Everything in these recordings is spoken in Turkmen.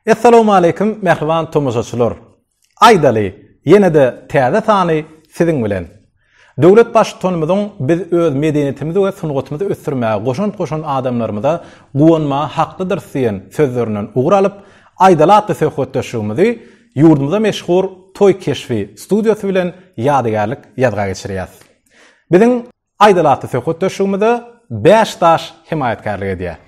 Assalamu alaykum mähriban tomaşaçylar. Aýdaly, ýene-de täze sany siziň bilen. Döwlet Baştutanymyzyň Biz öz medeniýetimizi we sungatymyzy ösdürmäge goşant goşan adamlarymyza guwanmaga haklydyrys diýen sözlerinden ugur alyp, Aýdaly atly söhbetdeşligimizi ýurdumyza meşhur Toý keşbi studiýasy bilen ýadygärlik ýazga geçirýäs. Biziň Aýdaly atly söhbetdeşligimize Bäş daş hemaýatkärlik edýär.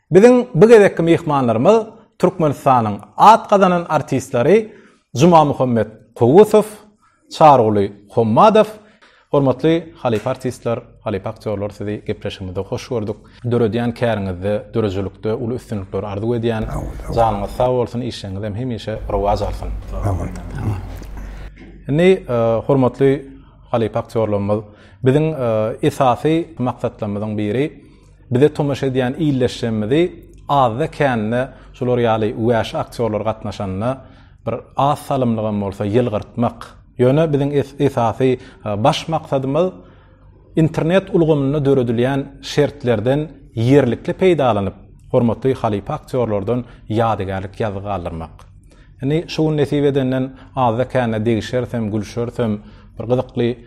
Biziň bu gezekki myhmanlarymyz Türkmenistanyň at gazanan artistleri Jumamuhammet Kowusow, Çaryguly Hommadow. Hormatly halypa artistler, halypa aktýorlar sizi gepleşigimizde hoş gördük. Döredýän käriňizde, döredijilikde uly üstünlikler arzuw edýän. Janyňyz sag bolsun, işleriňizem hemişe rowaç alsyn. Indi hormatly halypa aktýorlarymyz biziň esasy maksatlarymyzyň biri, Bize tomaşa edýän ildeşlerimizi azda-kände şular ýaly wäşi aktýorlar gatnaşanda bir az salymlygam bolsa ýylgyrtmak. Ýöne biziň esasy baş maksadymyz internet ulgamynda döredilýän şertlerden ýerlikli peýdalanyp, hormatly halypa aktýorlardan ýadygärlik ýazgy galdyrmak. Indi şu gün nesip edenden azda-kände degişerisem, gülşerisem, bir gyzykly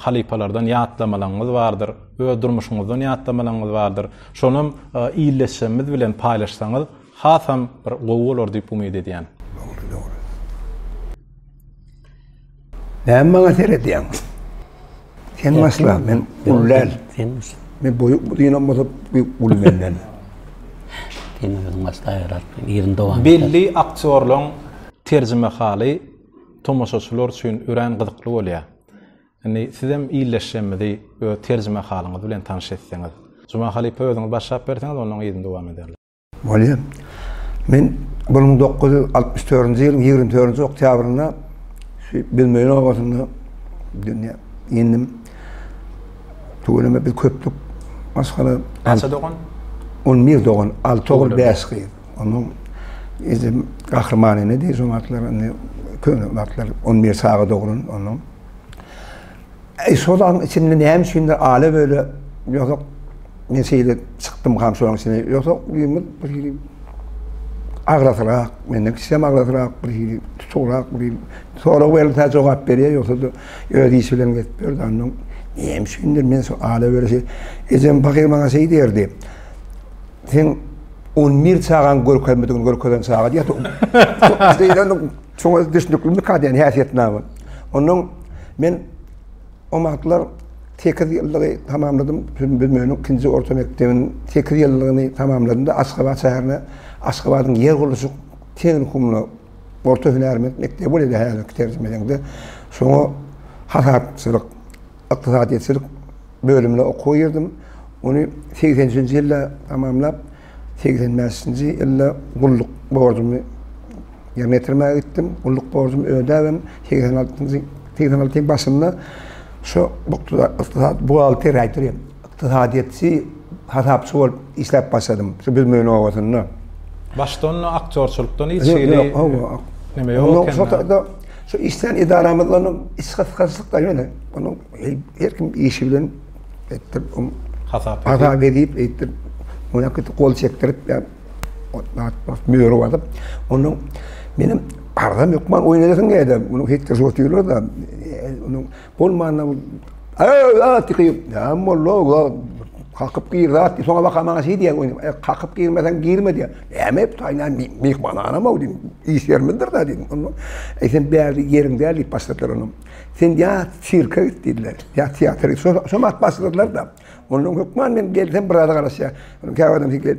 Halypalardan ýatlamalaryňyz bardyr, öz durmuşyňyzdan ýatlamalaryňyz bardyr. Şonam ildeşlerimiz bilen paýlaşsaňyz hasam bir gowy bolar diýip umyt edýän. Dogry, dogry. Näme maňa seredýäň? Sen başla, men uly däl. Sen başla. Men boýuk dynam bolsa uly menden. Sen özüň başla ýaratdyň, ýeriň dowam. Belli aktýorlaryň terjimehaly tomaşaçylar üçin örän gyzykly bolýar. Indi sizem ildeşlerimizi öz terjimehalyňyz bilen tanyş etseňiz. Juma halypa özüňiz başlap berseňiz ondan yzyny dowam ederler. Bolýar. Men bir müň dokuz ýüz altmyş dördünji ýylyň ýigrimi dördünji oktýabrynda şu Bilmeýin obasynda dünýä indim. Tüweleme biz köpdük. Maşgala. Näçe dogan? On bir dogan, alty ogul, bäş gyz. Onuň yzy gahrymany nedi şo wagtlar indi köne wagtlar on bir saga doglan onuň. E, şo zaň içinde näme üçindir ala böyle ýozak men şeýle çykdym ham şoň içine ýozak ýymy bir hili agrasyrak menden kişem agrasyrak bir hili tuturak bir hili sorag berilse jogap berýär ýogsa da öz işi bilen gezip ýördi andan näme üçindir men şu ala böyle şey ejem bakyr maňa şeý diýerdi Sen on bir çagaň görkezmedigini görkezen çaga diýýär. Şoňa düşnükli kadýan häsiýetnama. Ondan men o wagtlar 8 ýyllygy tamamladym. Bilmeýän ikinji orta mekdebiň 8 ýyllygyny tamamladym-da Aşgabat şäherine Aşgabadyň ýer gurluşyk tehnikumyna orta hünärment mekdebi bolýar häzirki terjime deňde. Şoňa hasapçylyk Ykdysadyýetçilik bölümine okuwa girdim. Ony segsen üçünji ýylda tamamlap, segsen bäşinji ýylda gulluk borjumy ýerine ýetirmäge gitdim. Gulluk borjumy ödäbem, segsen altynjy, segsen altynyň başynda şu ykdysat buhgalteriýa, Ykdysadyýetçi hasapçy bolup işläp başladym, şu Büzmeýin obasynda. Başdan aktýorçylykdan hiç hili neme ýok ekeni. Ýok, şol taýda şu işlän edaramyzda onuň iç gysgynçylyklar ýöne, onuň her kim işi bilen etdirip, hasap edip, eýtdirip, oňa köp gol çekdirip, möhür basyp, onuň menem arzam ýokman oýun edesiň gelýär-de, munuň hekdir şorty ýörler-de, onuň. Bolmanam Ey, at ýykyp, ya molla, ya kakyp gir, at ýyk, soňa baka maňa şeýdi ya, e, kakyp girmesen girme diýär. Näme et, taýna mihman anam o diýdim, iş ýerimizdir da diýdim. Onda, ey sen bäri ýeriň däl diýip başladylar onuň. Sen ya sirke git diýdiler, ya teatr git, şo at başladylar da. Ondan hökman men gelsem biraz garaşýar. Käwagtdan fikir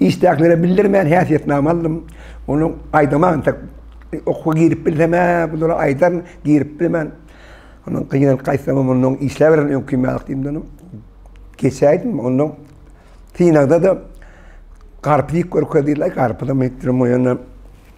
Işdäkilere bildirmän häsiýetnama aldym. Ony aýdaman entek okuwa girip bilsem-ä, bulara aýdaryn, girip bilmen. Ondan gynalyp gaýtsam, mundan işläberen öňki mälik diýdim. Geçäýdim, ondan synagda-da garpyz iýip görkezdiler, garpyzam iýip durmaýan.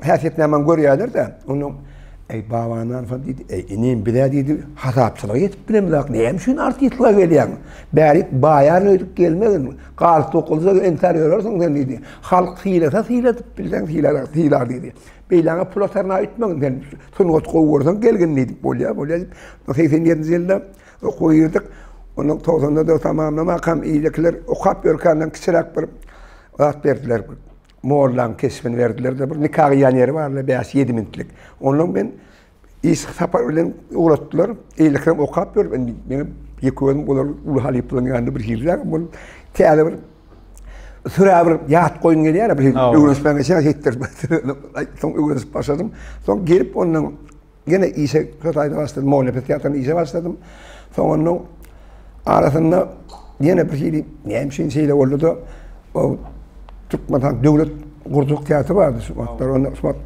Häsiýetnamany görýärler-de, onda Eý, babanan soň diýdi, Eý, inim, biz-ä diýdi, hasapçylyga ýetip bilemzok, näme üçin artistlige gelýäň? Bäri baýaryn öýdüp gelmegin, galyp tokylsa entäp ýörersiň sen diýdi. Halk sylasa syladyp bilseň sylalar, sylar diýdi. Beýläňe pula tarna etmegin sen. Sungat gowy görseň gelgin diýdi. Bolýar, bolýar diýip, segsen ýedinji ýylda okuwa girdik. Ondan togsan-da tamamlamakam, iýlekiler okap ýörkänden kiçiräk bir zat berdiler. Mollaň keşbini berdiler-de, bir nika gyýan ýeri bar-da, bäş-ýedi minitlik. Onnoň men iş sapary bilen ugratdylar. Eýlekiňem okap ýör, indi meňem ýeke gözüm olar uly halypalaryň ýanynda bir hillägem bolup, täze bir sürä bir ýat goýum gelýär-ä, bir öwrenişmän geçýär, ýetdirip, soň öwrenişip başladym. Soň gelip onnoň Ýene işe köp aýda başladym, moliýe teatrynda işe başladym. Soňundan arasynda ýene bir hili näme üçin şeýle boldy-da, o Türkmenistan döwlet gurjak teatry bardy şu wagtlar. Onda Usmat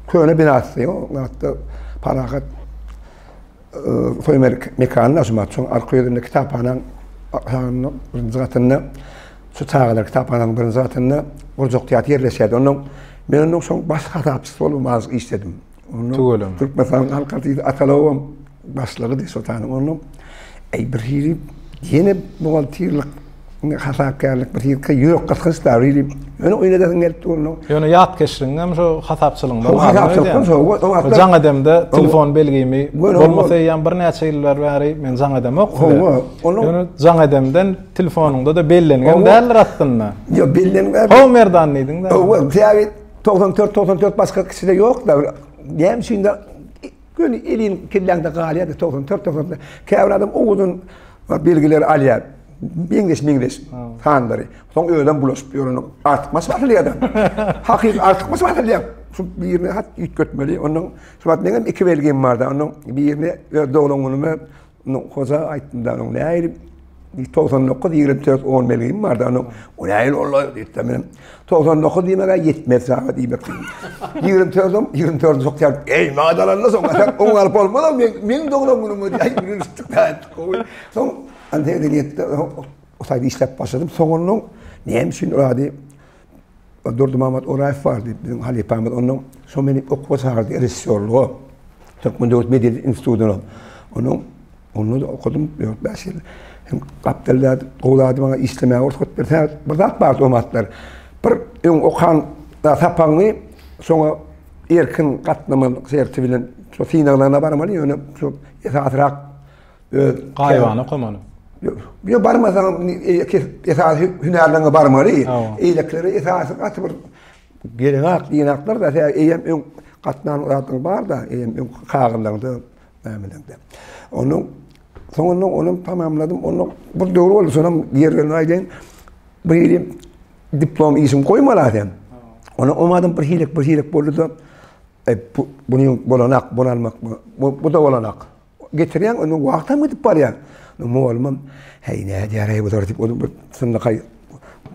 köne binasy, o wagtda Parahat Soýmerik mekanyny açmak üçin arka ýüzünde kitaphanaň aşagynda birinji gatynda şu çagalar kitaphanaň birinji gatynda gurjak teatr ýerleşýärdi. Ondan men ondan soň baş hasapçysy bolup az işledim. Tüweleme. Türkmenistanyň halk artisti Atalowam başlygy diýip sotanyň onuň. Eý bir hili ýene buhgalterlik hasapkärlik bir hili ýürek gysgynç da bir hili ýöne oýnadasyn gelip dur onuň. Ýöne ýat keşligiň hem şu hasapçylygyňda bar. Hasapçylyk soň. Jaň edemde telefon belgimi bolmasa eýýäm birnäçe ýyllar bäri men jaň edemok. Ýöne jaň edemden telefonyňda-da bellenigem däldir aslynda. Ýok bellenmän. Ho Merdan diýdiň-de. Owal täze. 94-94 başga kişide ýokda näme üçin göni elin kelläňde galýardy 94-94. Käbir adam o uzun belgileri alýar. Meňzeş meňzeş sanlary. Soň özem bulaşyp ýörün. Artykmaç başlaýar adam. Hakyky artykmaç başlaýar. Şu birini hat üýtgetmeli. Onuň şu wagt meňem iki belgim barda. Onuň birini öz doglan günüme Onuň hoja aýtdymda onuň näil bir togsan dokuz ýigrimi dört on belgim bardy onuň o näil ola diýipdi men togsan dokuz diýmegä ýetmez çaga diýmek ýigrimi dördüm ýigrimi dördüm şok ýaly eý maňa dalanla soň oň galyp bolmaz ol meň meň doglan günüm diýip aýt gülüşdik gowy soň ante edeniýetde o taýda işläp başladym soň onuň näme üçin ady Durdymamat Oraýew bar diýip, biziň halypamyz. Onuň şo meni okuwa çagyrdy režissýorlyga. Türkmen döwlet medeniýet institutyna. Onuň onda-da okadym dört, bäş ýyl. Hem gapdalda gowy zady maňa işlemäge rugsat berse, bir zat bardy o wagtlar. Bir öň okan sapagyňy soňa erkin gatnaman serti bilen şo synaglaryna barmaly, ýöne şo esasyrak öz gaýybana okamaly. Ýa barmasaň esas hünärleňe barmaly. Eýlekilere esasy gaty bir gereňak ýenaklar da eýem öň gatnan zatlar bar da eýem öň kagyzlaňda nämelerinde. Onuň soňundan onuň tamamladym. Onuň bir döwür boldy soňam ýerlerini aýdaýyn. Bir ýeri diplom işim goýmaly adam. Onuň omadym bir hilek bir hilek boldy da e, bu, buny bolanak, bolanak, bu, bu da bolanak. Getirýäň, onda wagtam gidip barýar. Mugallymam, Heý, nädip ýaraý bular diýip, ol bir synlakaý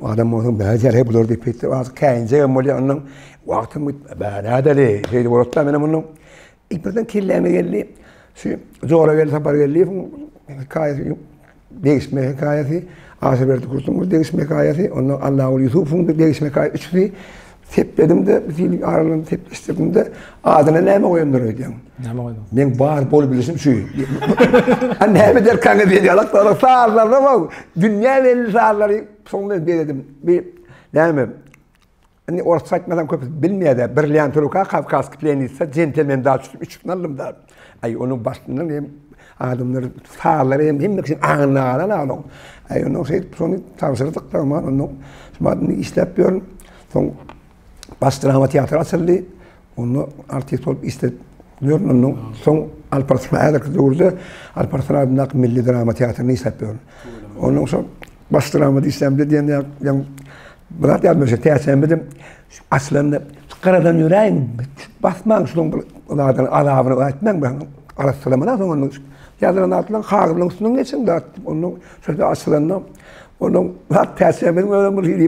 adam bolsa, nädip ýaraý bular diýip, eýsem, azyk käýinjegem bolýar. Ondan wagtam gidip, bä, nädeli, şeýle bolat-da, menem ondan. Ilk birden kelläme geldi, şu Jorageldi Sapargeldiýewiň hekaýasy. Degişme hekaýasy, Aşyrberdi Kurtuňkyň degişme hekaýasy, ondan Allaguly Ýusupowyň bir degişme hekaýasy, üçüsi sepledim-de, bir hili aralygyny sepleşdirdim-de, adyna näme goýandyr öýdýäň? Näme goýdum? Men bar bolup bilişim şu. Ha näme der kaňy diýip ýalak ýalak sazlarda bol. Dünýä belli sazlary soňda beredim. Bir näme? Indi orsça aýtmasaň köpüsi bilmeýär-dä, bir lýantyruka kawkazki plenitsa jentelmen daş düşüp üçüsini aldym-da. Aý, onuň başyndan hem adamlar, sazlar hem hemme kişiniň aňynda galan-a onuň. Aý, ondan şeýdip şony tabşyrdyk-da, aman ondan şumat indi işläp ýörün. Soň Baş drama teatry açyldy. Onda artist bolup işläp ýörün. Ondan soň Alparslan häzirki döwürde Alparslan adyndaky milli drama teatrynda işläp ýörün. Ondan soň Basdyrama diýsemde diýen ýaň bu zat ýadyma düşdi. Täçämizem açylanda garadan ýöräýiň, basmaň şunuň bir zadyny azabyny aýtmaň ben. Arassalamana soň onuň ýazylan zatlaryň hagyrynyň üstünden geçiň zat. Onuň şeýle açylanda onuň zat täçämiziň özem bir hili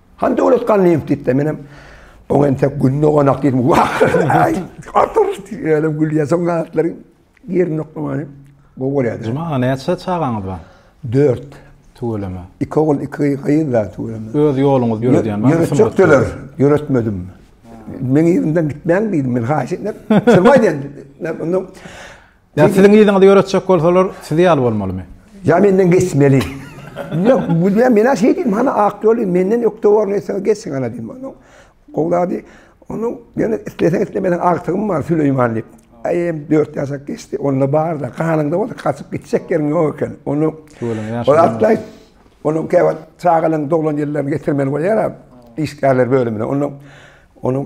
Han döwlet gan ýeňip gitdi. Menem oň entek gün doganak diýdim. Wah! Atyr diýelim gülýä soň gatlaryň ýerini noklamany. Bu bolýar. Juma aga näçe çagaňyz bar? 4. Tüweleme. Iki ogul, iki gyz da tüweleme. Öz ýoluňyz ýöredýän bar. Ýöretjekdiler. Ýöretmedim. Meň ýerimden gitmäň diýdim. Men haýyş etdim. Çyrmaý diýdim. Ondan Ýa siziň yzyňyzy ýöretjek bolsalar sizi ýaly bolmalymy? Ýa menden geçmeli. Ýok, men menä şeý diýdim, hany ak ýoly menden ökde borun etseňiz geçiň hany diýdim. Onuň gowy zady, onuň ýöne isleseň islemeseň agtygym bar Süleýman diýip. Aý em dört ýaşak geçdi, onda bar-da, ganyňda bolsa gaçyp gitjek ýeriň ýok eken. Ony ol atlaý, onuň käwagt çagalaryň doglan ýyllaryny getirmeli bolýar-a, işgärler bölümine. Onuň, onuň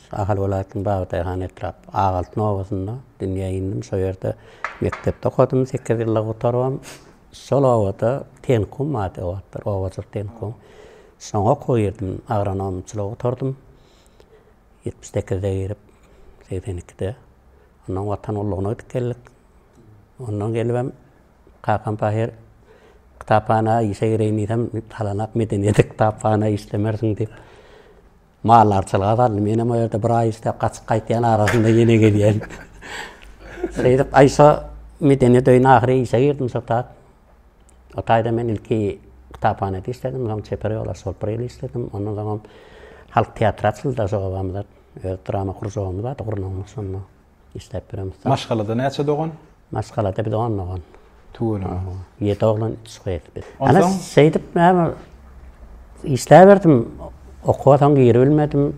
Ahal welaýatynyň Bagtyýarhan etrap Agaltyn obasynda dünýä indim. Şo ýerde mekdepde okadym, sekiz ýyllygy gutarybam. Şol obada tenkum ady o wagtlar, obajyk tenkum. Şoňa okuwa girdim, agronomçylygy gutardym. Ýetmiş sekizde girip, segsen ikide. Ondan Watan gullugyna gidip geldik. Ondan gelibem kakam pahyr kitaphana işe gireýin diýsem, talanak medeniýete kitaphana işlemersiň diýip, Mally arçalyga saldy. Menem o ýerde bir aý işläp, gaçyp gaýtýan arasynda ýene gelýän. Şeýdip, aý şo medeniýet öýüne ahyry işe girdim şo taýda. O taýda men ilki kitaphanada işledim, soň çeper ýolbaşçy bolup bir ýyl işledim. Ondan soňam halk teatry açyldy-da şo obamyzda. Öz drama kružogymyz bardy, gurnagymyz şonda. Işläp ýörem ussat. Maşgalada näçe dogan? Maşgalada biz on dogan. Tüweleme. Ýedi oglan, üç gyz biz. Ana şeýdip näme işläberdim. Okuwa soň giribilmedim.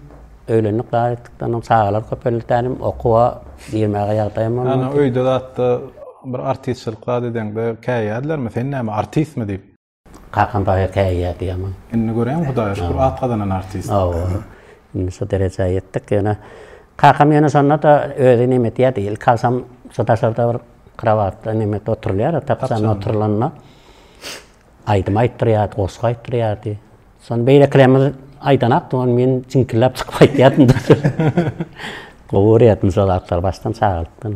Öýlendik dagy etdikden soň çagalar köpeldi tälim. Okuwa girmäge ýagdaýym bolmady. Ana öýde zatda bir artistçilik zat edeňde käýýärlermi? Sen näme artistmi diýip? Kakam baýa käýýärdi ýaman. Indi göräýiň Hudaýa şükür at gazanan artist. Hawa. Indi şu derejä ýetdik ýöne kakam ýöne şonda-da özi neme edýärdi ilki agşam şu daşarda bir krowatda neme oturylýar-a tapjanda oturylanda aýdym aýtdyrýardy goşgy aýtdyrýardy. Şony beýlekilerimiz aýdanakdy ony men jiňkilläp çykyp aýtýardym. Gowy görýärdim şol zatlary başdan çagalykdan.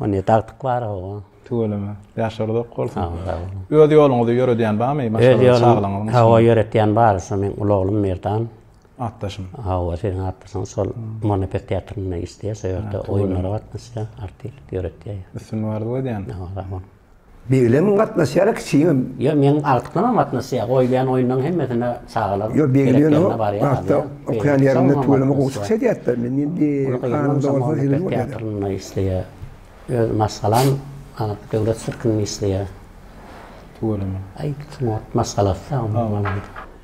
O ne dagtyk bar oba. Tüweleme. Ýaşlary dok bolsun. Sag bol, sag boluň. Öz ýoluňyzy ýöredýän barmy? Öz ýolum, hawa ýöretýän bar. Şo meň uly oglum Merdan. Atdaşyň. Hawa, siziň atdaşyňyz şol Monopet teatrynda işleýär. Şo ýerde oýunlara gatnaşýar, artistlik ýöretýär. Üstünlik arzuw edýän. Sag boluň. Beglem gatnaşýara kiçiňem. Ýo meň agtyklamam gatnaşýa goýulýan oýunlaň hemmesine çagalar Ýo begleniňo barýa okýan ýerinde tüweleme gowy çykýa diýýätler men indi kanalda bolsa seyredip otyryn isleýä öz maşgalam döwlet sirkinde isleýä tüweleme aý maşgalasy sag bolsun.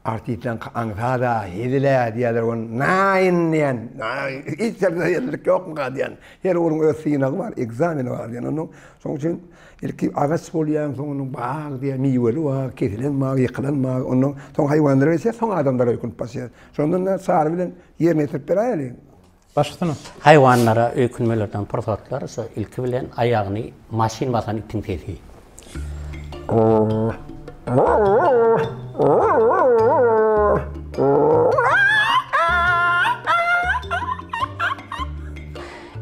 Artistleň aňsada hezil-ä diýýärler ony. Naýyn diýen, hiç ýerde hezillik ýokmyka diýen. Her ugruň öz synagy bar, ekzameni bar diýen. Onnoň şonuň üçin ilki agaç bolýar, soň onuň bag diýen, miweli bag, kesilen bag, ýykylan bag. Onnoň soň haýwanlara geçýär, soň adamlara öýkünip başlaýar. Şondan-da Çary bilen ýerine ýetirip beräýeli. Başgysynam. Haýwanlara öýkünmelerden pursatlar şo ilki bilen aýagyny maşyn basan itiň sesi.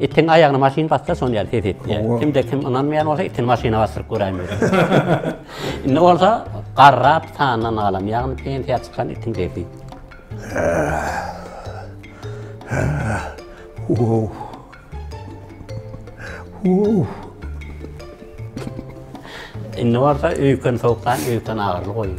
Itiň aýagyny maşyn bassa şon ýaly ses etýär. Kimde kim ynanmaýan bolsa itini maşyna basdyryp göräýmeli. Indi bolsa garrap sandan galan ýagny pensiýa çykan itiň sesi. Indi bolsa öýken sowukdan öýken agyrly goýun.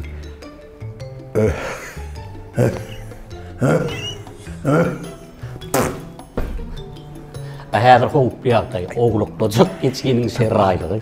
Häzir howply ýagdaý, owluklyjyk geçginiň şerraýlygy.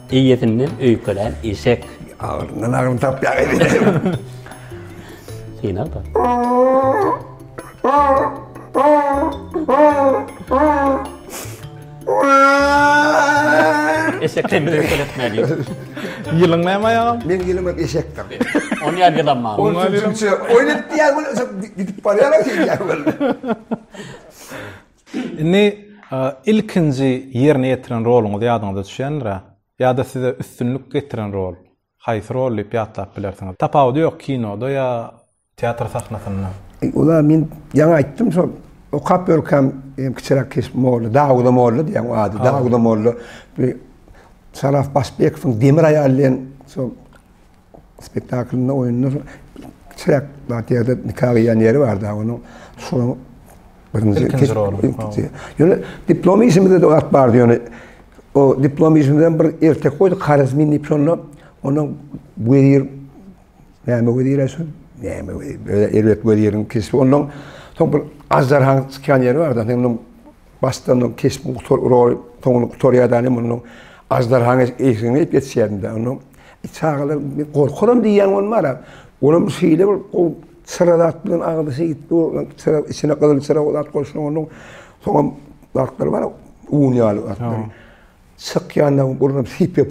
Eýesinden öýkelän eşek. Agyryndan agyryny tapýar eýesi. Synag-da. Eşek hemme öýkeletmeli. Ýylyň näme aýagam? Meň ýylym hep eşekdir. Ony ýaly ýylam bar. Ol türkçe oýnat diýýär, gidip barýar, şeýdýär. Indi ilkinji ýerine ýetiren roluňyz ýadyňyza düşýändir-ä? Ýa-da size üstünlik getiren rol, haýsy rol diýip ýatlap bilersiňiz? Tapawudy ýok kinoda ýa teatr sahnasynda. Ula men ýaňy aýtdym şol okap ýörkäm kiçiräk keşbim boldy. Dawuda molla diýýän o ady. Dawuda molla Saraf Başbekowyň Demir aýal diýen şol Spektaklynda oýunda kiçiräk zat ýerde nika gyýan ýeri bar da onuň şonuň birinji ilkinji roly. Ýöne diplom işimizde de wagt bardy ýöne o diplom işimizden bir ertek goýdy Karazmin diýip şonda onuň wezir näme wezir şu näme wezir erbet weziriň keşbi ondan soň bir aždarhaň çykýan ýeri bar da onuň Başdan o keşp gutar urar, soňra gutarýar da ine munuň aždarhaň eşigine gelip ýetişýärin da. Onda çagalar men gorkaryn diýýän bolmara. Olam şeýle bir gowy çyra zat bilen agzy şeýdip dur, çyra içine gyzyl çyra zat goşuň onuň. Soňam zatlar bar, un ýaly zatlar. Çykýanda burnuny sypýar.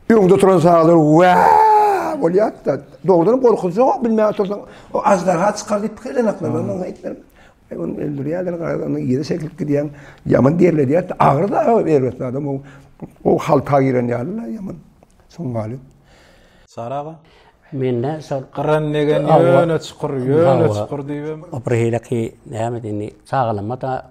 Öňde oturan çagalar wa bolýar-da. Dogrudanam gorkuzjak bilmän otursaň, o aždarha çykar diýip pikirlenoklar. Sen ony öldürýärler, garaz ony ýere çekilip gidýän. Ýaman derledýär. Agyr da erbet adam o. O halta giren ýaly la ýaman. Soň galyp. Sara aga? Mende şol gyran degen ýöne çukur, ýöne çukur diýibem. Birhili ki näme indi çagalama da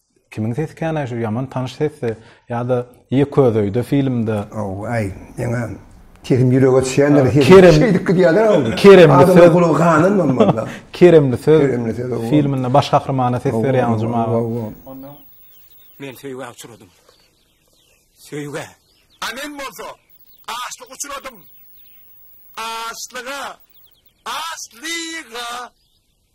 Kimiň sesi känä şu ýaman tanyş sesdi ýada ýe közöýde filmde. Owaý ýene Kerim ýürege düşýänler Kerim şeýdip gidýärler ol. Kerim söz gulagy ganan bolmaly. Kerim söz filminde baş gahrymana ses berýän juma. Ondan men söýgä uçradym. Söýgä. A men bolsa açlyk uçradym. Açlyga. Açlyga.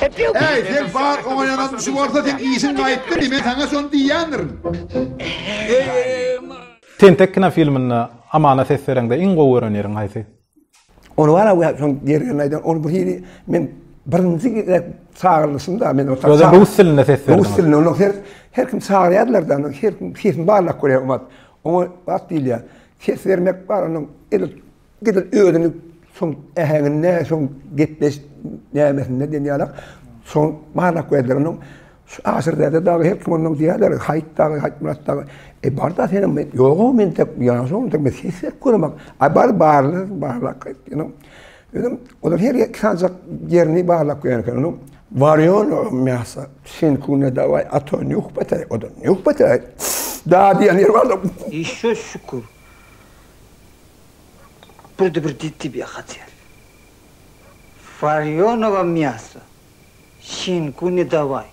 Äý, sen bar oňaýanam şu bolsa seň işiň gaýtdy diý, men saňa şony diýýändirin. Tentek kinofilminde Amana ses bereňde iň gowy gören ýeriň haýsy? Ony bar a we şoň gergini aýdan ony bir hili men birinji gezek çagyrlyşymda men o Özem rus dilinde ses berdiň. Rus dilinde onuň her her kim çagyrýardylar-da, her kim sesini barlap görýär umat. Oňa wagt diýilýär. Ses bermek bar onuň edil Edil özüni soň äheňinde, soň gepleş nämesinde diýen ýalak. Soň barlak berdiler onuň. Şu aşyr däde dagy her kim ondan diýerler, Haýyt dagy, Haýyt Myrat dagy. E barda senem men ýogam men tek ýaňşy ondan men ses berip görmek. Ay bar barly barlak etdiň. Özüm olar her ýer sanjak ýerini barlak görmek onuň. Varýon o mäsa. Sen kune davay ato nýuh betay odan. Nýuh betay. Da diýen ýer barda. Işe şükür. Birde bir ditibiýa hatyýar. Warýonowa miýaso, şinku ne dawaý,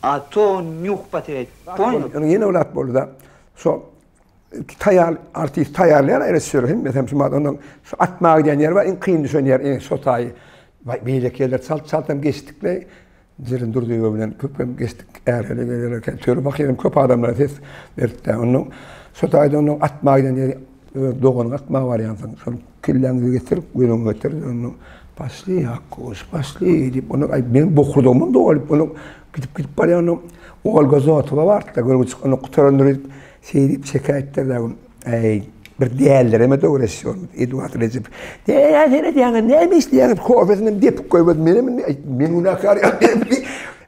a to nýuh poterýaý, ponýal? Ýöne ýene bir at boldy-da, şo iki taýýar artist taýýarlaýar-a režissýor hemmesem şumat onnoň şu atmaga gidýän ýeri bar, iň kyn düşen ýeri, iň şo taýy. Waý, beýleki ýerler çalt-çaltam geçdik-le. Jeren Durdyýewa bilen köpem geçdik. Ärhili gezer eken. Töre bakýarym, köp adamlara ses beripdi. Onda şo taýda onda atma giden ýeri öz doganyňy atma barýansyň. Şol kelläňi getir, gözüňi getir. Onda Paşli Akgoş, paşli diýip, onda aý men bokurdagymam dolup, onda gidip gidip barýan onda Olga Zotowa bardy-da, görgüçi onda gutarandyr diýip, şeýdip şekä etdirdi. Äý, bir däldireme döwreşýärmiz, Eduard Rejep. Näme seredýäňiz, näme işleýäňiz, kofesinem depip goýmady, menem indi men günäkär ýaly.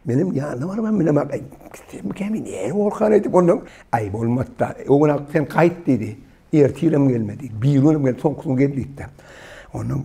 Menem ýanyna barman bilemok, äý, gitsemmikäm indi, äý, bolkan aýdyp, onsoň, äý, bolmady-da, o gün ak sen gaýt diýdi, ertir hem gelmedi, biriginem gelmedi, soňky gün gel diýdi-de. Onsoň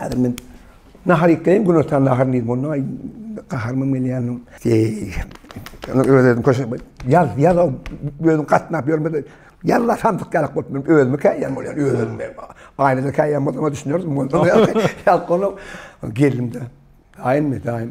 Häzir men nahar ýekeýin gün otan nahar diýip onda gaharmym gelýändim. Onu özüm köşe ýaz ýaz özüm gatnap ýörmedi. Ýalla sandyk ýalak bolup men özümi käýän bolýar özüm ben. Aýnada käýän bolsa düşünerdim. Onda ýalak geldim de. Aýnmy daýym.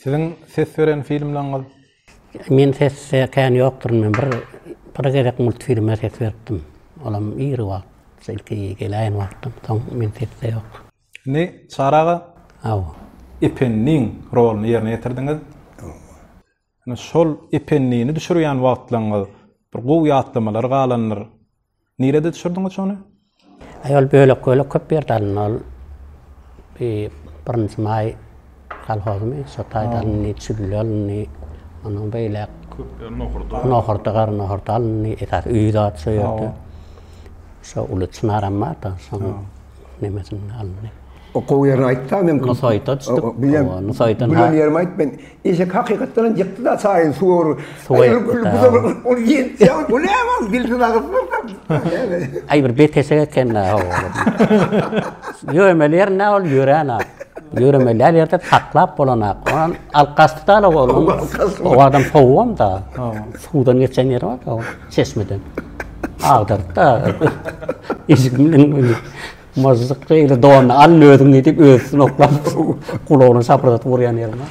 Siziň ses beren filmleriňiz? Men ses e, kän ýokduryn. Men bir, bir gezek multfilme ses beripdim. Olam ir wagt, şu ilki geläýen wagtym. Soň men sesde ýok. Indi Çary aga, Hawa. Ependiň roluny ýerine ýetirdiňiz. Hawa. Indi şol Ependini düşürýän wagtlaryňyz bir gowy ýatlamalar galandyr. Nirede düşürdiňiz ony? Aýol bölek bölek köp ýerde alyn ol. Bi birinji maý kolhozmy, şo taýda alyndy, çüllä alyndy. Ondan beýläk köp ýer nohurda. Nohurda, gara nohurda alyndy. Esasy öý zat şo ýerde. Şo uly çynaram bar-da, şonuň nemesinde alyndy. Okuw ýerini aýtda men Ony saýta açdyk. Ony saýta Gülen ýerimi aýt men. Eşek hakykatdanam ýykdy da çaýy suwur. Ol ýetdi. Bu näme dilsiz agyz. Aý bir beteşek eken. Ýöremeli ýer nä ol ýören ak. Ýöremeli ýer ýerde saklap bolan ak. Ony alyp gaçdy da ol. O adam sowugam da. Suwdan geçen ýeri bar da ol çeşmeden. Agdardy da. Eşik bilen. Myžžyk şeýle donyny al özüň diýip özi üstüne oklap gulagyna şapyrdatyp urýan ýeri bar.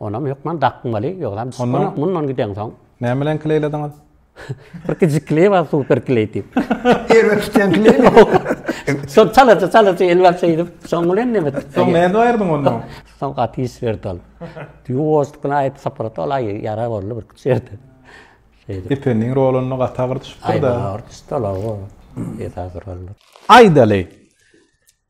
Onam hökman dakmaly, ýogsam Onam mundan gideňsoň. Näme bilen kleýlediňiz? Bir kiçi kleý bar, super kleý diýip. Erbet tutýan kleý. Şol çalaça çalaça elbap şeýdip, soň bilen näme etdik? Soň näme aýyrdyň ondan? Soň gaty iş berdi ol. Ýuwaşlyk bilen aýyp saprat ol aýy, ýara boldy bir kiçi ýerde. Şeýdip. Ependiň rolunda gaty agyr düşüpdir-de. Aýy, agyr düşdi ol, awa. Esasy rolda. Aýdaly.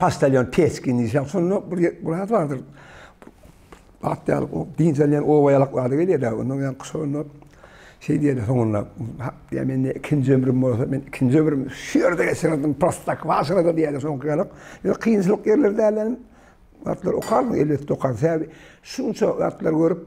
Paştalýon Peçkin diýýär. Şonda bir bir zat bardyr. At ýaly o diýilýän oba ýalaklary gelýär. Onda ýan kuşunda şey diýýär soňunda. Diýär men ikinji ömrüm bolsa men ikinji ömrüm şu ýerde geçirdim. Prostak başyna da diýýär soňky ýalak. Ýa kynçylyk ýerler dälem. Atlar okarmy elbetde okar. Sebäbi şunça atlar görüp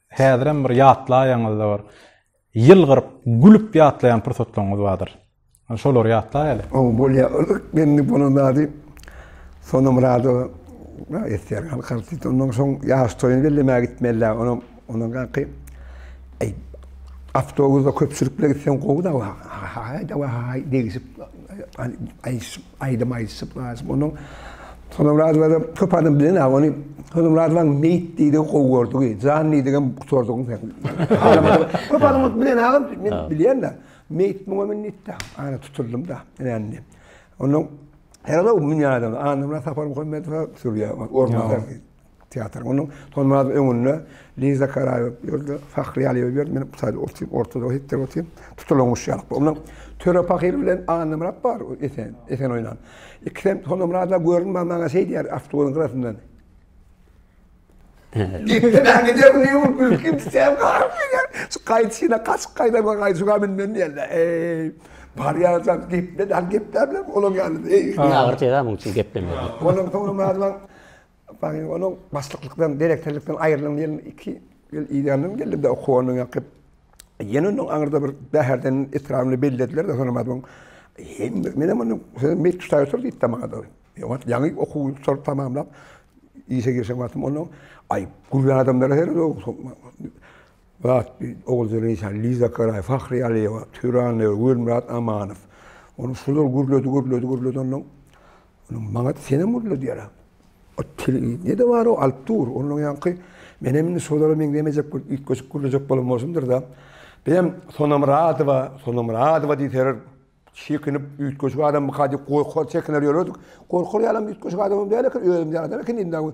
Häzirem bir ýatlaýaňyzda bir ýylgyryp, gülüp ýatlaýan pursatlaryňyz bardyr. Şolary ýatlaýaly. Ow, bolýar. Yzyk gelni bolan zady Sonamyradowa aýtýar. Halk artisti. Ondan soň ýaş toýuny bellemäge gitmeli-dä. Onam, ondan gaky, eý, awtobusda köpçülikle gitseň gowy-da, ha-haý, dawa, ha-haý degişip, aýdyşyp. Aýdym aýdyşyp Nazym onuň Honamyradowa-da köp adam bilenä ony Honamyradowaň meýit diýdigi gowy gördügi, jan diýdigem gutardygyň sen. Köp adam ony bilenä men bilýän-de. Meýit muňa men nitde ara tutuldym-da indi. Onuň her adam münýär adam. Annamyrat Saparmuhammedowa sürýär orunbasar diýip. Teatr. Onuň Tolmazyň öňünde Liza Karaýewa ýördi, Fahriýe Aliýewa ýördi, men bu taýda otyp, ortada hepdir otyp, tutulan guş ýalyk. Onda Töre pahyr bilen Annamyrat bar, Esen, Esen oýnan. Ikisem Tolmyratlar görünmän maňa şeý diýýär, awtobusyň gyrasyndan. Gitdiler, gider bu ýurt mülki biter, garyp gider. Şu gaýdyşyna gaçyp gaýdan we gaýdyşyga münden diýerler. Eý, barýançam gepledäl, gepläp bilen olaň ýanyna. Ýagyr tezä muň üçin geplemeýär. Onuň Tolmazyň Baýyň onuň başlyklykdan, direktorlykdan aýrylan ýyl iki ýyl idealnym geldi-de okuw ondan ýakyp. Ýene onuň aňyrda bir Bäherden etrabynda bellediler-de, soň maňa Hem menem onuň sözüni meýik tutaý otur diýip-de maňa-da. Ýogat ýaňy okuw ýurtlary tamamlap, işe girişen wagtym onuň Aý, gür adamlara sered-ow. Zat bir Oguljelil işan, Liza Karaý, Fahri Aliýewa, Türanow, Gülmyrat Amanow. Onuň şular gürledi, gürledi, gürledi onuň. Onuň maňa senem gürledýär. O telewideniýe nede bar-ow, alyp dur. Ondan ýaňky menem indi şolara meňzemejek bir üýtgeşik gürlejek bolan bolsundyrda. Bizem Sona Myradowa, Sona Myradowa diýseler çekinip üýtgeşik adamyka diýip gorkar, çekiner ýörerdik. Gorkar ýalam üýtgeşik adamam däl eken, özüm ýaly adam eken indi-ä.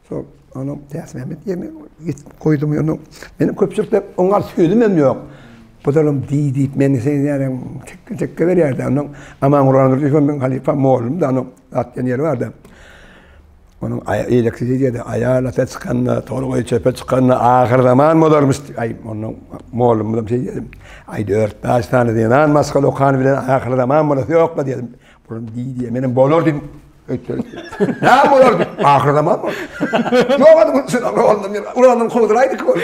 Soň onuň Täçmämmet ýerini getirip goýdum. Ýöne meniň köpçülikde oňa garşy sözümem ýok. Buzaram diý diýip meni seýdýärem, tekge-tekge berýärdi. Ondan Amanguran Nurdyýew meniň halypam, mollumdy. Onuň zat diýen ýeri bardy. Onuň eýlekçi diýdi, Aýal ata çykanda, tolgaý çöpe çykanda ahyrzaman bolarmyş. Aý, ondan mollumyzam şeý diýdi. Aýt, örtbäş sany zenan maşgala okan bilen ahyrzaman bolasy ýok-la diýdim. Buram diý diýýär. Menem bolar diýdim. Näme bolar diýip, ahyr zaman bor. Ýok ady gülsün, oglum, ulandan kowduraýdyk ol.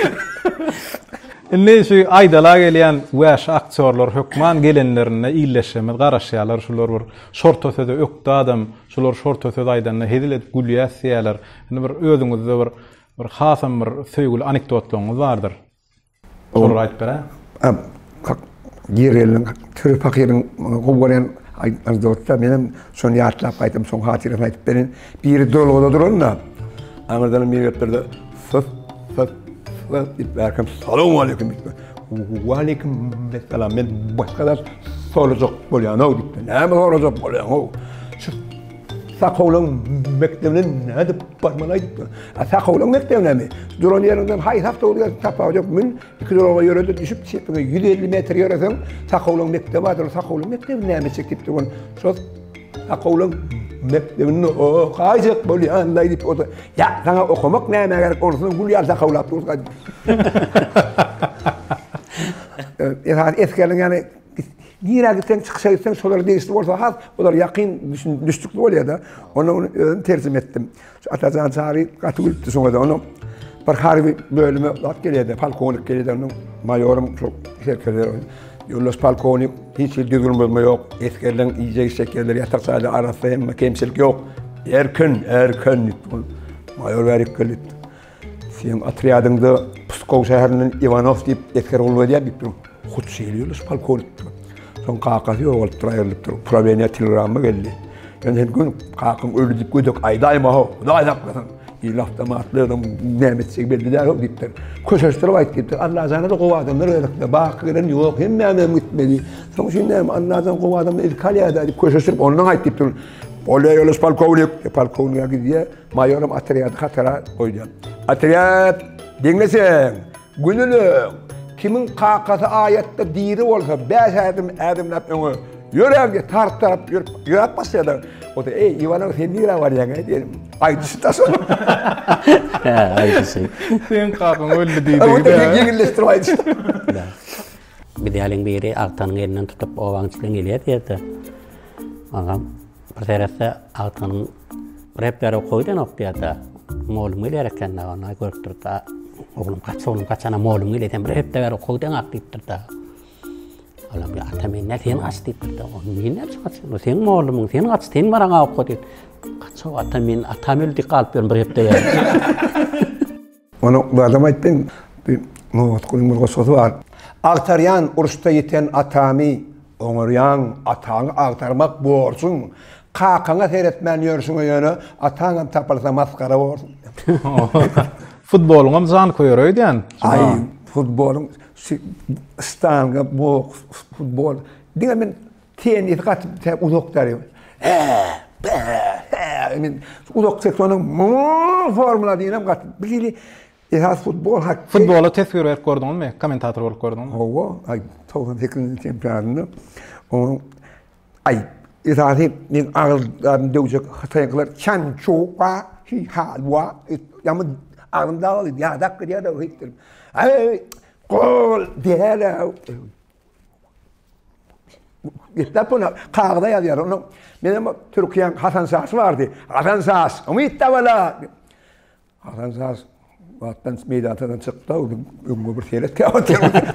Indi şu aýdala gelýän wäşi aktýorlar hökman gelenlerinde illeşjemiz garaşýarlar, şular bir şorta söze ökde adam, şular şorta söz aýdanda hezil edip gülýäs diýýärler. Indi bir özüňizde bir bir hasam bir söýgüli anekdotlaryňyz bardyr. Şol aýdyp ber-ä. Gireliniň Püri pakyryň gowy görýän aýdymlaryny dörtdä. Menem şony ýatlap gaýtam soň hatyrasyny aýdyp berin. Biri dolguda duran-da, aňyrdanam biri gelip durdy. Syf, syf, syf diýip bärkem Salowmaleýkim diýipdir. Waleýkim essalam. Men başga zat sorajak bolýan-ow diýipdir. Näme sorajak bolýaň-ow? Sakowlyň mekdebine nädip barmaly aýdyp dur. A Sakowlyň mekdebinemi? Duran ýeriňden haýsy awtobus gelsin sapagy ýok. Mün, iki duralga ýöre-de düşüp çepiňe ýüz elli metr ýöreseň Sakowlyň mekdebi bardyr. Ol Sakowlyň mekdebini näme etjek diýip durgun. Şol Sakowlyň mekdebinde okaýjak bolýan-laý diýip oda. Ýa, saňa okamak nämä gerek, onusyny gül ýaly sakawlap durka diýip. Esasy esgerligiň ýany Nirä gitseň, çykyşa gitseň şolara degişli bolsa has olar ýakyn düşdükli bolýada. Onda ony özüm terjime etdim. Şu Atajan Çary gaty gülüpdi şoňa-da. Onuň bir harby bölüme zat gelýärdi, polkownik gelýärdi, onuň maýorym şol serkerde. Ýoldaş polkownik, hiç hili düzgün bozma ýok. Esgerleriň iýjek içjek ýerleri ýatak jaýlar arassa hemme kemçilik ýok. Erkin, erkin diýip, maýor bärik geldi. Seň otrýadyňda Pskow şäherinden Iwanow diýip esger gulluk edýär diýip dur. Hut şeýle ýörüş polkownik. Soň kakasy ýogalypdyr, aýrylypdyr. Uprawenýa telegramma geldi. Men sen gün kakaň öldi diýip gödek aýdaýma-how, Hudaý saklasyn. Ýyl awtomatly adam näme etjegi belli däl-ow diýipdir. Köşeşdirip aýt diýipdir. Allajana-da gowy adamlar gerekdi. Baky gelen ýok, hemmäňem gitmeli. Soň üçin näme, Allajan gowy adamlary ilki alýar-da diýip köşeşdirip ondan aýt diýipdir. Bolýar ýoldaş polkownik. Polkownige gidýär. Maýoram otrýady hatara goýýan. Otrýad, diňle sen! Günüleň! Kimiň kakasy aýatda diri bolsa, bäş ädim ädimläp öňe ýöräň diýip, tartap ýörüp, ýöräp başlaýarlar. Ota, Eý, Iwanow, sen nirä barýaň-aý? diýenim. Aýdyşy daş onuň. Hä, aýdyşy. Seň kakaň öldi diýdigi-dä. Ota, sen ýeňilleşdirip aýdyşyňy. Biz ýalyň biri agtanyň elinden tutup, obaň içinden gelýär diýer-de. Agam, Bir seretse agtynyň repler okoýdan okýada. Molum geler eken da ona görüpdir da. Oglum kaç oglum kaçana molum geler eken bir repler okoýdan ak diýipdir da. Olam ya ata men ne sen kaç diýipdir da. Oglum men ne kaç sen sen molum sen kaç sen baraň awka diýip. Kaç ata men atam öldi galyp bir repler. Ony zadam aýtdyň. Bir nobatgulyň bir goşgusy bar. Agtarýan uruşda ýiten atamy, Oňarýaň ataňy agtarmak borjuň. Kakaňa seretmän ýörşüňe ýöne, Ataňam tapylsa masgara borjuň. Futbolyňam janköýeri öýdýän. Aý, futbolyň şu stanga boks, futbol. Diňe men Tennis gaty tä uzak däl. Uzak ses onuň formula diýenem gaty. Bu hili esas futbol hakda. Futbola teswir berip gördüňizmi? Kommentator bolup gördüňizmi? Hawa, aý 98-nji çempionatynda onuň aý esasy men agyzlaryny döwjek hytaýyňkylar Çan Çu Wa Hi Ha Wa ýaman agzym dagyldy ýadap gidýär-de hepdir. Aý gol däl-ä. Gitläp ona kagyza ýazýar. Onda menem Türkiýäň Hasan Şasy bardy. Hasan Şas, umyt dabala. Hasan Şas Batdan meýdandan çykdy, öňe bir seret käwatdy.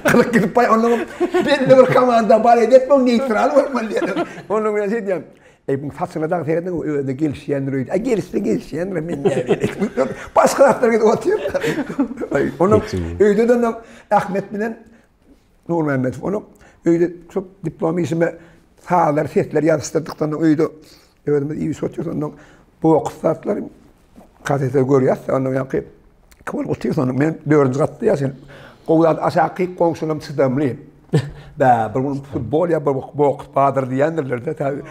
Kylyk gidip baý, onda belli bir komanda bar edip, bu neýtral bolmaly diýdi. Onda men şeýdýän. Ey, bu saçyna daň seretdiň, özüne gelişýändir öýdi. Ay, gelişse gelişýändir, men näme. Başga zatlar gidip otyr. Onda öýde de Ahmet bilen Nurmämmedow ony öýde tutup, diplom işime sazlar, sesler ýazyşdyrdyk. Soň öýde özümiz iýip-içip otyr. Ondan boks zatlar, kasetlary görýäs. Ondan ýaňky iki bolup otyr. Soň men dördünji gatda ýaşaýan. Gowy zat, aşaky goňşularyň çydamly. Bä, bir gün futbol ýa boks bardyr diýendirler-de, taýy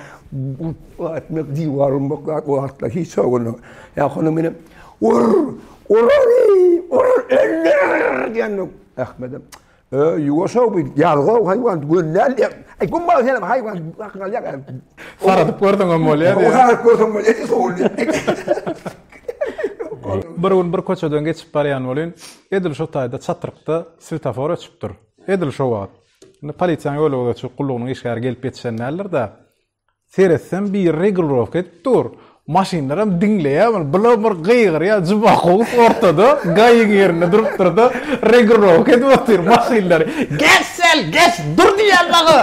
urup atmak, diwar urmak zat o wagtlar hiç ýok indi. Ýa-ha onda menem ur, ur, ur, öldür diýendim. Ahmedem, Öý, ýuwaş-ow bu, ýazga-ow haýwan, göni däl diýýär. Aý, bu maňa senem haýwan, hakyň alýar gal. Saradyp görseň hem bolýar diýýär. Saradyp görseň bolýar diýýär, sowul diýýär. Bir gün bir köçeden geçip barýan welin, edil şo taýda çatrykda swetafor öçüpdir. Edil şo wagt. Indi polisiýanyň ýolgöwürçilik gullugynyň işgäri gelip ýetişen däldir-dä, Seretsem biri regulirowka edip dur. Maşynlaram diňleýär muny. Bula bir gygyrýar Jumakow ortada, gaýyň ýerinde durupdyr-da, regulirowka edip otyr maşynlary. Geç sel, geç! Dur diýýän maňa!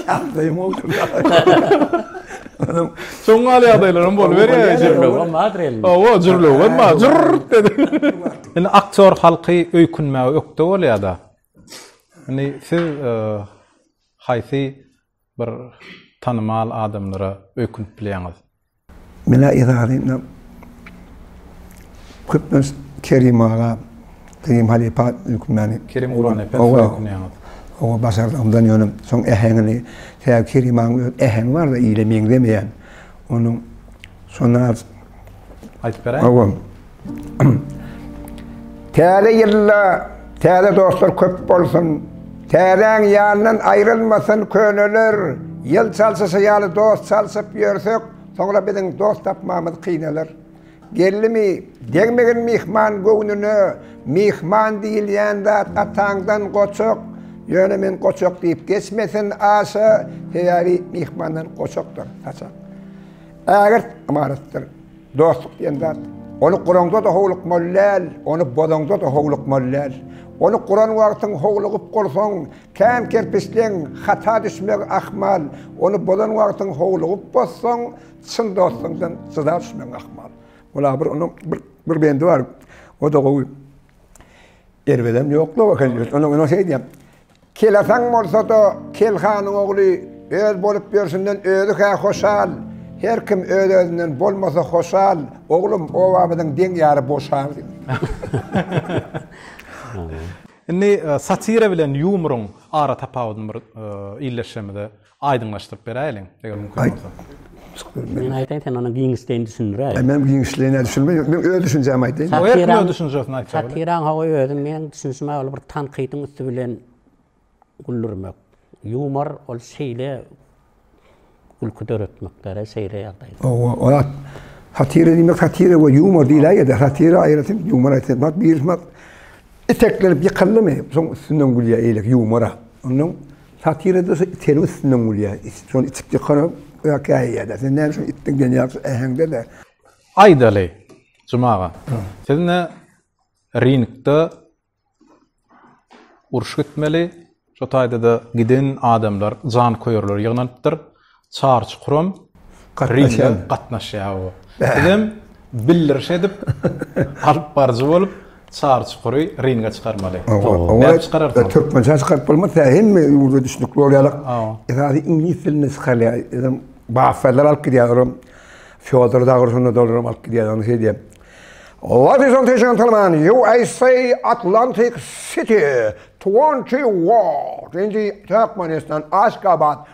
Ýagdaýym boldy. Şoň ýaly ýagdaýlaram boluberýär. Jürlewem bardyr elinde. Hawa, jürlewem bar. Jürrt edip. Indi aktýor halky öýkünmäge ökde bolýar-da. Indi siz haýsy bir tanymal adamlara öýkünip bilýäňiz? Menä yzaryna köplenç Kerim aga, Kerim halypa öýkünmäni. Kerim Gurbanepesowä öýkünýäňiz. Oňa başardygymdan ýöne şoň äheňini, sebäbi Kerim agaň öz äheňi bar-da ile meňzemeýän. Onuň şonda az. Aýdyp beräýiň. Täze ýylda täze dostlar köp bolsun. Täzäň ýanyndan aýrylmasyn köneler. Ýyl çalşyşy ýaly dost çalşyp ýörsek, soňra biziň dost tapmamyz kynalar. Gelnimi, degmegin myhman göwnüne, myhman diýilýän zat ataňdan goçak, ýöne men goçak diýip geçmesin aşa, sebäbi myhmandan goçakdyr, saçak. Ägirt ymaratdyr. Dostluk diýen zat, ony guraňda-da howlukmaly däl, ony bozaňda-da howlukmaly däl. Ony guran wagtyň howlugyp bolsaň, käm-kerpisleň, hata düşmegi ahmal, ony bozan wagtyň howlugyp bozsaň, çyn dostuňdan jyda düşmegiň ahmal. Ol-a bir onuň bir bendi bar, o-da gowy. Erbedem ýok-la, onuň şeýdýär, Kelasaň bolsa-da, Kel hanyň ogly öz bolup ýörşünden özi-hä hoşal. Her kim öz-özünden bolmasa hoşal, oglum, obamyzyň deň ýary boşal. Indi satira bilen ýumruň ara tapawudyny bir illeşşemize. Aýdyňlaşdyryp beräýeliň, eger mümkin bolsa. Men aýtaýyn, sen ony giňişleýin düşündiräý. Aý, men giňişleýin nädip düşündirmeli? Ýok, men öz düşünjämi aýtaýyn. Ýok, her kim öz düşünjesini aýtsa bolar. Satiraň hawa özüň, meniň düşünişime ol bir tankydyň üsti bilen güldürmek. Ýumor ol şeýle gülki döretmekdir-ä, şeýle ýagdaý. Hawa, ol satira diýmek, satira we ýumor diýiläýýä-de, satira aýratyn, ýumor aýratyn. Bak, birisi iteklenip ýykyldymy, soň üstünden gülýär, eýlek ýumor-a. Onnoň. Satirada iteniň üstünden gülýär. It şony içip ýykanok, ökäýýär-de. Sen näme üçin itden genial şu äheňde-de? Aýdaly, Juma aga, siz indi ringde uruş gitmeli, şo taýda-da giden adamlar, janköýerler ýygnanypdyr. Çar çukuram ringe gatnaşýar bu. Bizem bildiriş edip, alyp baryjy bolup, çar çukury ringe çykarmaly. Nädip çykararsyň? Türkmençe çykaryp bolmaz, hemme ýurda düşnükli bolýarlar. Esasy iňlis dilinde çykarylýar. Özem basalar alyp gidýärler hem. Fýodor Dagorhunda dolaram alyp gidýär, ony şeý diýýär. Ladies and gentlemen, USA Atlantic City, 20 Ward, indi Türkmenistan, Aşgabat,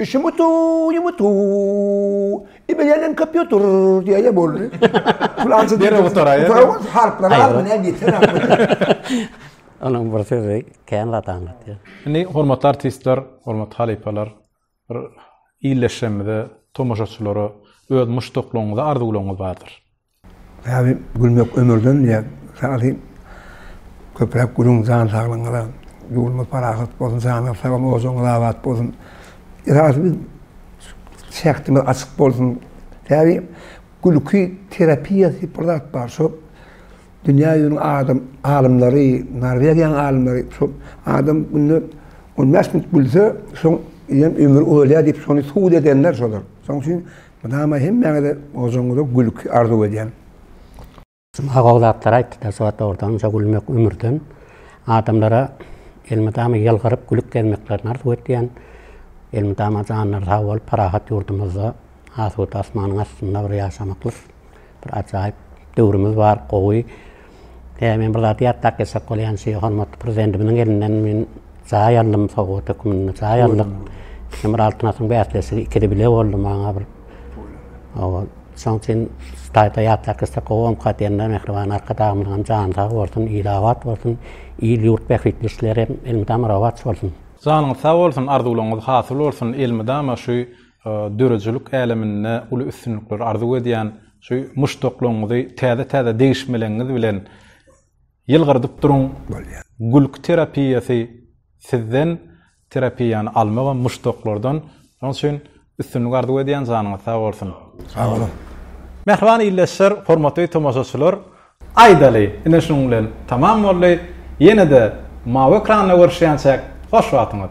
Işimi toýumy toý. Iberenem kompýuter diýeli boldy. Planşet derrew gutaraýa. Gutaraýa harplary az bilen ýeter aslynda. Onuň bir sözi kän zat aňlatýar. Indi hormatly artistler, hormatly halypalar bir illeşjemize, tomaşaçylara öz muşdaklaryňyzy, arzuwlaryňyzy bardyr. Sazy gülmek ömürden diýýär. Sazy köpräk gülüň jan saglygyňyza. Ýurdumyz parahat bolsun, janyňyz sag bolsun, ojagyňyz abat bolsun. Sazy biz şähdimiz açyk bolsun. Sazy gülki terapiýa diýip bir zat bar. Şo dünýä ýüzüniň adam alymlary, Norwegiýanyň alymlary şo adam günde on bäş minut gülse, şoň bilen ömri ulalýar diýip, şony subut edenler şolar. Şonuň üçin Mydama hemmäňize ojagyňyza gülki arzuw edýän. Juma gowy zatlar aýtdyda şu dogrudan şo gülmek ömürden adamlara elmydama ýylgyryp gülüp gezmeklerini arzuw etýän elmydama janlary sag bolup parahat ýurdumyzda asuda asmanyň astynda bir ýaşamaklyk Bir ajaýyp döwrümiz bar, gowy. Ýa men bir zat ýatlap geçsek bolýan şu hormatly prezidentimiziň elinden men jaý aldym sowgat hökmünde jaý aldyk. Hem bir altyn asyň bäsleşigi ikide bile boldy maňa bir. Owa. Şoň üçin taýda ýatlap geçsek gowy omka diýende mähriban arkadagymyzyň jany sag bolsun, il abat bolsun, il ýurt bähbitli işleri elmydama rowaç bolsun. Janyňyz sag bolsun, arzuwlaryňyz hasyl bolsun, elmydama şu Döredijilik äleminde uly üstünlikleri arzuw edýän, şu muşdaklaryňyzy täze-täze degişmeleňiz bilen ýylgyrdyp duruň. Gülki terapiýasy sizden terapiýany almagam muşdaklardan. Şonuň üçin üstünlik arzuw edýän janyňyz sag bolsun. Sag boluň. Mähriban ildeşler, hormatly tomaşaçylar, aýdaly ine şunuň bilen tamam boldy. Ýene-de mawy ekranda görüşýänçäk hoş wagtyňyz.